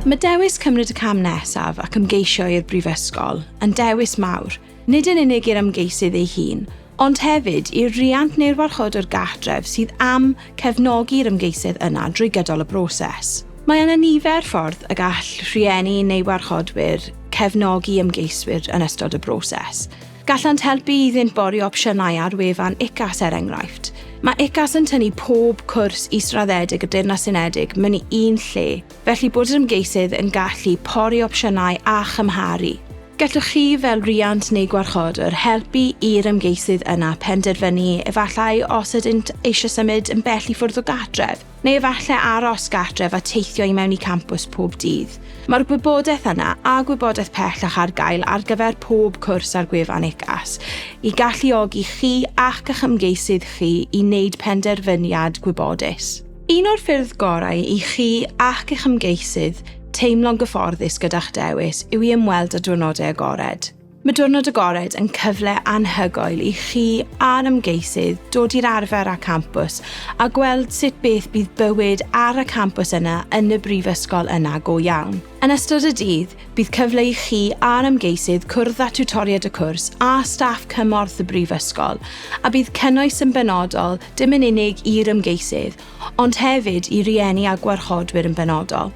Mae dewis cymryd y cam nesaf ac ymgeisio i'r brifysgol yn dewis mawr, nid yn unig i'r ymgeisydd ei hun, ond hefyd i'r riant neu'r warchodwr gartref sydd am cefnogi'r ymgeisydd yna drwy gydol y broses. Mae yna nifer ffordd y gall rhieni neu warchodwyr cefnogi ymgeiswyr yn ystod y broses. Gallant helpu iddynt bori opsiynau ar wefan UCAS er enghraifft. Mae UCAS yn tynnu pob cwrs israddedig y Deyrnas Unedig mewn i un lle, felly bod yr ymgeisydd yn gallu pori opsiynau a chymharu. Gallwch chi, fel rhiant neu gwarchodwr, helpu i'r ymgeisydd yna penderfynu efallai os ydynt eisiau symud yn bell i ffwrdd o gartref. neu efallai aros gartref a teithio i mewn i campws pob dydd. Mae'r gwybodaeth yna a gwybodaeth pellach ar gael ar gyfer pob cwrs ar gwefan UCAS i galluogi chi ac ych ymgeisydd chi i wneud penderfyniad gwybodus. Un o'r ffyrdd gorau i chi ac eich ymgeisydd teimlo'n gyfforddus gyda'ch dewis yw i ymweld â Diwrnodau Agored. Mae Diwrnod Agored yn cyfle anhygoel i chi a'r ymgeisydd dod i'r arfer â campws a gweld sut beth bydd bywyd ar y campws yna yn y brifysgol yna go iawn. Yn ystod y dydd, bydd cyfle i chi a'r ymgeisydd cwrdd â tiwtoriaid y cwrs a staff cymorth y brifysgol, a bydd cynnwys yn benodol dim yn unig i'r ymgeisydd, ond hefyd i rieni a gwarchodwyr yn benodol.